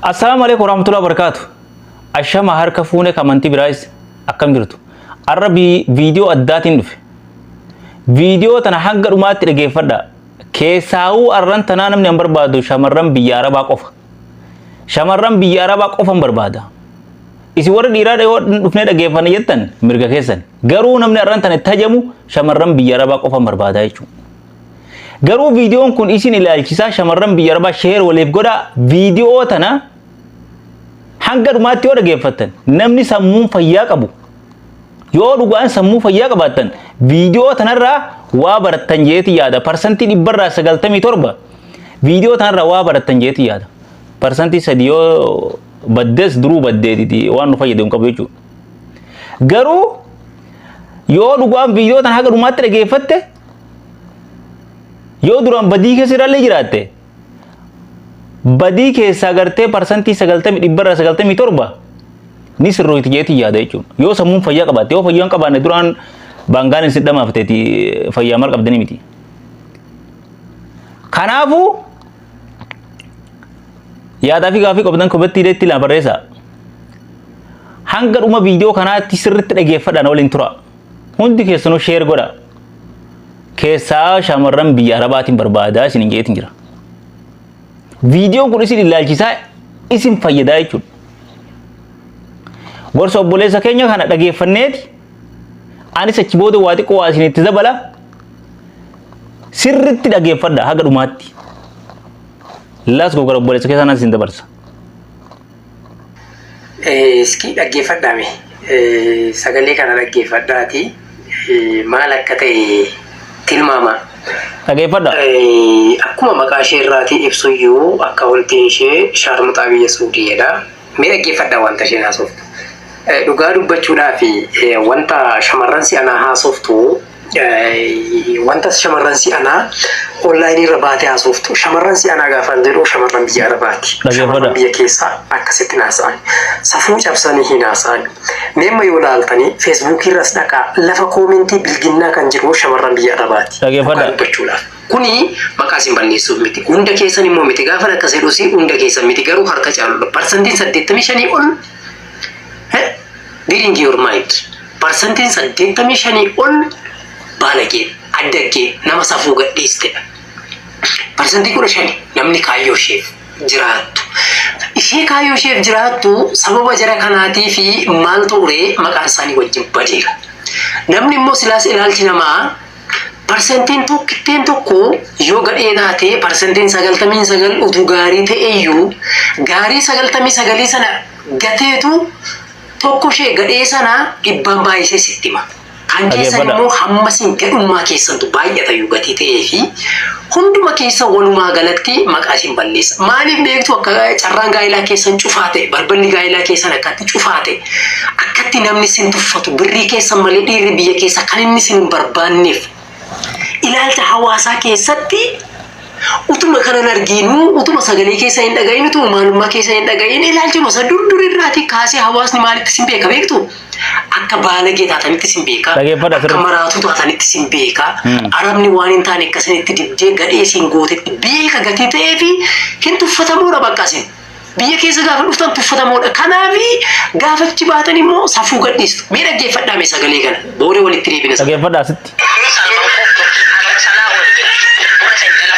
Assalaamu alaikum warahmatullahi wabarakatuh. Ashama harka fuune kamantii biraayis akkam jirtu. Arra bi- viidiyoo addaatiin dhufe. Viidiyoo tana hanga dhumaatti dhageeffadha. Keessaawuu arran tanaa namni hin barbaadu shamarran biyya arabaa qofa. Shamarran biyya arabaa qofa hin barbaada. Isin warri dhiiraa dhayoo dhufnee dhageeffanna jettan mirga keessan. Garuu namni arran tana itti hajamu shamarran biyya arabaa qofa hin barbaada jechuudha. Garuu viidiyoon kun isin ilaalchisaa shamarran biyya arbaa sheer waliif godhaa viidiyoo tana hanga dhumaatti yoo dhageeffattan namni sammuun fayyaa qabu yoo dhugaan sammuu fayyaa qabaattan viidiyoo tanarraa waa barattan jeeti yaada parsantii dhibbarraa sagaltamii torba viidiyoo tanarraa waa barattan jeeti yaada parsantii sadi yoo baddes duruu baddeetiti waan nu fayyadu hin qabu jechuudha garuu yoo dhugaan viidiyoo tana haga dhumaatti dhageeffatte yoo duraan badii keessa irraallee jiraatte badii keessaa gartee parsantii sagaltamii dhibbarra sagaltamii torba ni sirrooyti jeetii yaada jechuudha. Yoo sammuun fayyaa qabaatte yoo fayyaa hin qabaanne duraan baangaan isin dhamaafteeti fayyaa maal qabdanii miti. Kanaafuu yaadaa fi gaafii qabdan kobetti ileetti laa barreessaa. Hanga dhuma viidiyoo kanaatti sirriitti dhageeffadhaan waliin tura. Hundi keessanuu sheer godha. Keessaa shamarran biyya arabaatiin barbaadaa isin hin jeetiin jira. Viidiyoon kun isin ilaalchisaa isin fayyadaa jechuudha. Gorsa obboleessa keenya kana dhageeffanneeti anis achi booda waa xiqqoo waa isin itti dabala sirritti dhageeffadha haga dhumaatti. Laas gogora obboleessa keessaan isin dabarsa. Iskii dhaggeeffadhaa mee sagalee kana dhaggeeffadhaati maal akka ta'e tilmaamaa. Dhageeffadha. Akkuma maqaa ishee irraatii ibsuyyuu akkaawuntiin ishee shaarmuxaa biyya Suudiidha. Mee dhaggeeffadhaa wanta isheen haasoftu. Dhugaa dubbachuudhaaf wanta shamarran si'anaa haasoftu Wanta shamarran si anaa onlaayinii irra baatee haasoftu shamarran si anaa gaafaan jedhu shamarran biyya arabaati. Shamarran biyya keessaa akkasitti hin haasa'an. Safuu cabsanii hin haasa'an. Meemma yoo laaltanii feesbuukii irras dhaqaa lafa koomentii bilginnaa kan jiru shamarran biyya arabaati. Dhugaa dubbachuudhaaf. Kuni maqaa isin balleessuuf miti. Hunda keessan immoo miti. Gaafan akkas jedhus hunda keessan miti. Garuu harka caaludha. Parsantiin saddeettamii shanii ol Eh? Get into your mind. Parsantiin 85 ol baalagee, addaggee, nama safuu gadhiistedha. Parsantii 15 namni kaayyoo isheef jiraattu. Ishee kaayyoo isheef jiraattu sababa jara kanaatii fi maal turee maqaan isaanii wajjin badeera. Namni immoo silaas ilaalchi namaa Parsantiin tokkitteen tokko yoo gadhee taate parsantiin sagaltamiin sagal utuu gaarii ta'eyyuu gaarii sagaltamii sagalii sana gateetu tokko ishee gadhee sana dhibbaan baay'isee sitti hima. Kan keessan Dhageeffadha. immoo hamma isin gadhummaa keessantu baay'atayyuu gatii ta'ee fi Hunduma keessan walumaa galatti maqaa isin balleessa. Maaliif beektu akka carraan gaa'ilaa keessan cufaa ta'e, balballi gaa'ilaa keessan akkatti cufaa ta'e, akkatti namni isin tuffatu, birrii keessan malee dhiirri biyya keessa kan inni isin hin barbaanneef. Ilaalcha hawaasaa keessatti utuma kanan argiinu, utuma sagalee keessa hin dhaga'iin, utuma maalummaa keessa hin dhaga'iin, ilaalchuma isa dur durirraatii kaasee hawaasni maalitti isin beeka beektu? Akka baalagee taatanitti sin beekaa. Dhageeffadha Akka sirriitti. maraatuu taatanitti sin beekaa. Hmm. Arabni waan hin taane akka isinitti dibdee gadhee sin gootetti beeka gatii ta'ee fi hin tuffatamuudha bakka isin. Biyya keessa gaafa dhuftan tuffatamuudha. Kanaaf gaafa achi baatan immoo safuu gadhiistu. Mee dhaggeeffadhaa mee sagalee kana. Booda walitti deebina. Dhageeffadha asitti. Salman Koftu, Ahmed Salah Wade, Buna Sentela,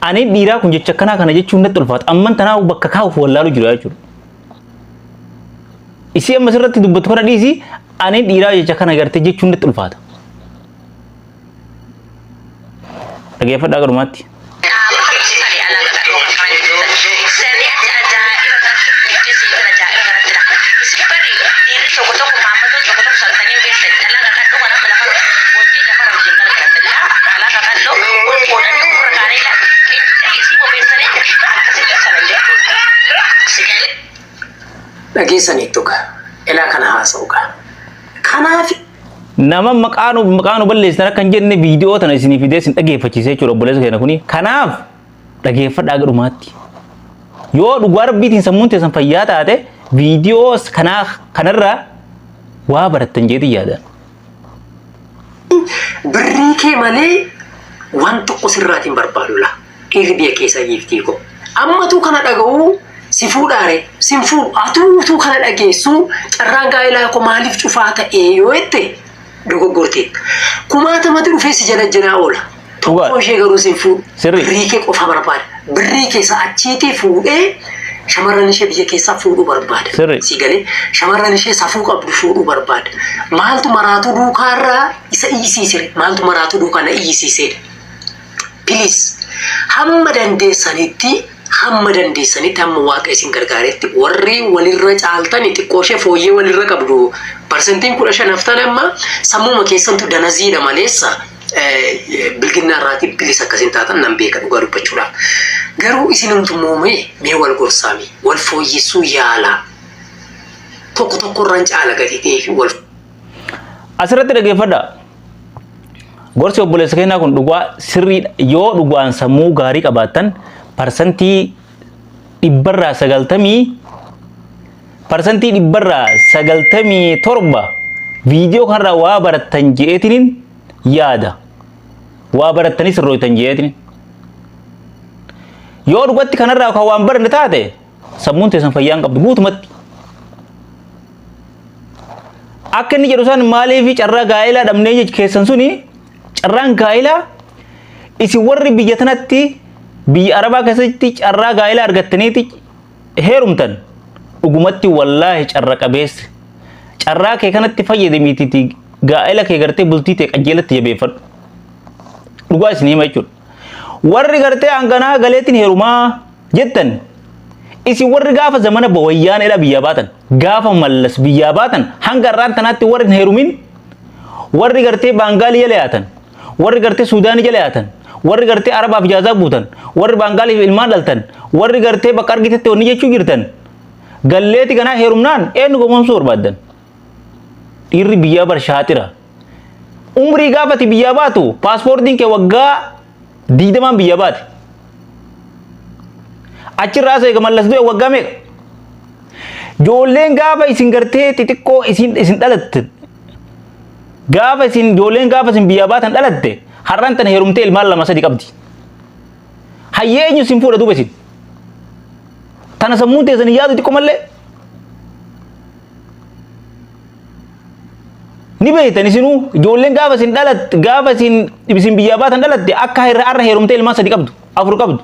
Ani dhiiraa kun jecha akkanaa kana jechuun natti ulfaata. Amman tanaa bakka kaa'uuf wallaalu jira jechuudha. Isii amma sirratti dubbatu kana dhiisi ani dhiiraa jecha kana gartee jechuun natti ulfaata. Dhageeffadhaa garumaatti. dhageessaniittu gaa ilaa kana haasa'u gaa kanaaf Nama maqaa nu maqaa nu balleessitan akka hin jenne viidiyoo tana isinii fidee isin dhageeffachiise jechuudha obboleessa keenya kuni. Kanaaf dhageeffadhaa gara dhumaatti. Yoo dhugaa rabbiitiin sammuun teessan fayyaa taate viidiyoo kanaa kanarraa waa barattan jeetiin yaadaan. Birrii kee malee waan tokko sirraatiin barbaadu laa. Dhiirri biyya keessa giiftii koo. Ammatuu kana dhaga'uu si fuudhaare sin fuudhu atuu utuu kana dhageessuu carraan gaa'elaa koo maaliif cufaa ta'ee yoo jette dogoggorteetta. Kumaatamatu dhufee si jala jiraa oola. Dhugaa. Tokko ishee garuu siin fuudhu. Sirrii. Birrii kee qofa barbaada. Birrii kee isa achiitii fuudhee shamarran ishee biyya keessaa fuudhuu barbaada. Sirrii. Sii galee shamarran ishee safuu qabdu fuudhuu barbaada. Maaltu maraatuu duukaa irraa isa iyyisiisire? Maaltu maraatuu duukaa na iyyisiiseedha? Piliis hamma dandeessanitti hamma dandeessanitti hamma waaqa isin gargaaretti warri walirra caaltan xiqqoo ishee fooyyee walirra qabdu parsentiin kudha shan haftan amma sammuma keessantu danaziidha maleessa bilginnaa irraatii bilisa akka isin taatan nan beeka dhugaa dubbachuudhaaf. Garuu isinumtu immoo mee mee wal gorsaa mee wal fooyyessuu yaalaa tokko tokko irraan caala gatii ta'ee fi wal Asirratti dhaggeeffadha. Gorsi obboleessa keenyaa kun dhugaa sirriidha. Yoo dhugaan sammuu gaarii qabaattan parsantii dhibbarraa sagaltamii Parsantii dhibbarraa 97 viidiyoo kanarraa waa barattan je'eetiniin yaada. Waa barattanii sirrooytan je'eetiniin. Yoo dhugatti kanarraa kan waan baranne taate sammuun teessan fayyaa hin qabdu guutumatti. Akka inni jedhu san maaliif carraa gaa'elaa dhabnee jechi keessan suni carraan gaa'elaa isin warri biyya tanatti biyya arabaa keessatti carraa gaa'elaa argattaniiti heerumtan dhugumatti wallaahi carra qabeessa carraa kee kanatti fayyadamiititi gaa'ela kee gartee bultii tee qajeelatti jabeeffadhu dhugaa isin hima jechuudha warri gartee hanganaa galeetiin heerumaa jettan isin warri gaafa zamana bawayyaan edha biyyaa baatan gaafa mallas biyyaa baatan hanga irraan tanaatti warri hin heerumin warri gartee baangaalii yala yaatan warri gartee Suudaanii jala yaatan, warri gartee Arabaaf ijaazaa guutan, warri Baangaaliif ilmaan dhaltan, warri gartee bakka argitetti wanni jechuu jirtan, galleeti kanaa heerumnaan eenyu gowwoomsuu barbaaddan? Dhiirri biyyaa bar shaaxira. Umrii gaafati biyyaa baatu paaspoortiin kee waggaa digdamaan biyyaa baate. Achirraa as eega mallas du'e waggaa meeqa? Joolleen gaafa isin gartee xixiqqoo isin isin dhalattan Gaafa isin ijoolleen gaafa isin biyyaa baatan dhalatte har'an tan heerumtee ilmaan lama sadi qabdi. Hayyee eenyu isin fuudha duuba isin. Tana sammuun teessan hin yaadu xiqqoo mallee. Ni beektan isinuu ijoolleen gaafa isin dhalatte gaafa isin isin biyyaa baatan dhalatte akka har'a heerumtee ilmaan sadi qabdu afur qabdu.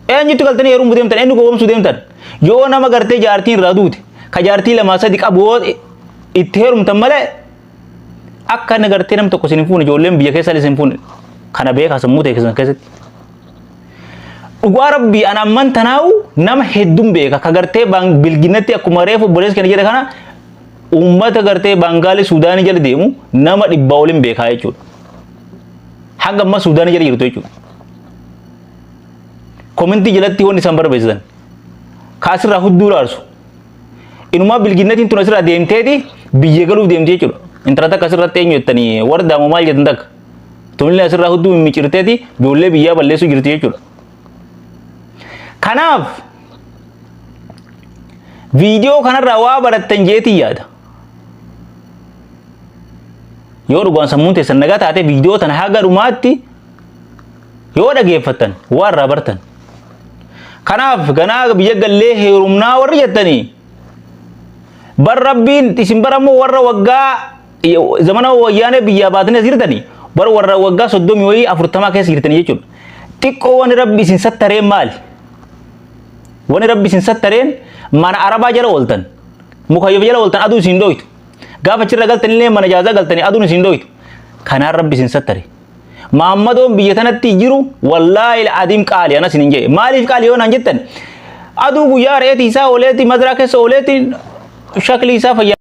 Eenyutti galtanii heerumuu deemtan? Eenyu gowwoomsuu deemtan? Yoo nama gartee jaartiin irraa duute, ka jaartii lamaa sadi qabu yoo itti heerumtan malee akka inni gartee nam tokko isin hin fuune ijoolleen biyya keessan isin hin fuune kana beekaa sammuu ta'e keessan keessatti. Dhugaa rabbii an amman tanaa'u nama hedduun beeka ka gartee bilginatti akkuma reefu obboleessi kana jedhe kana uummata gartee baangaalee suudaanii jala deemu nama dhibbaa oliin beekaa jechuudha. Hanga ammaa suudaanii jala jirtu jechuudha. komentii jalatti wanni isaan barbaachisan ka asirraa hudduu raarsu inumaa bilginnatiin tun asirraa deemteeti biyya galuuf deemti jechuudha intala takka asirratti eenyu jettanii wardaa moo maal jettan takka tunillee asirraa hudduu mimicirteeti ijoollee biyyaa balleessuu jirti jechuudha kanaaf viidiyoo kanarraa waa barattan jeetii yaada yoo dhugaan sammuun teessan nagaa taate viidiyoo tana haga dhumaatti yoo dhageeffattan waa irraa bartan kanaaf ganaa biyya gallee heerumnaa warri jettanii bar rabbiin isin barammoo warra waggaa zamana wayyaanee biyyaa baatanii as jirtanii bar warra waggaa soddomii wayii afurtamaa keessa jirtanii jechuudha xiqqoo wani rabbi isin sattareen maali wani rabbi isin sattareen mana arabaa jala ooltan mukayyaf jala ooltan aduu isin dhooytu gaafa achirra galtanillee mana jaazaa galtanii aduun isin dhooytu kanaan rabbi isin sattare Maammadoon biyya tanatti jiru wallaahi adiim qaali anas hin jee. Maaliif qaali yoo naan jettan aduu guyyaa re'eeti isaa ooleeti madaraa keessa ooleeti shaklii isaa fayyaa.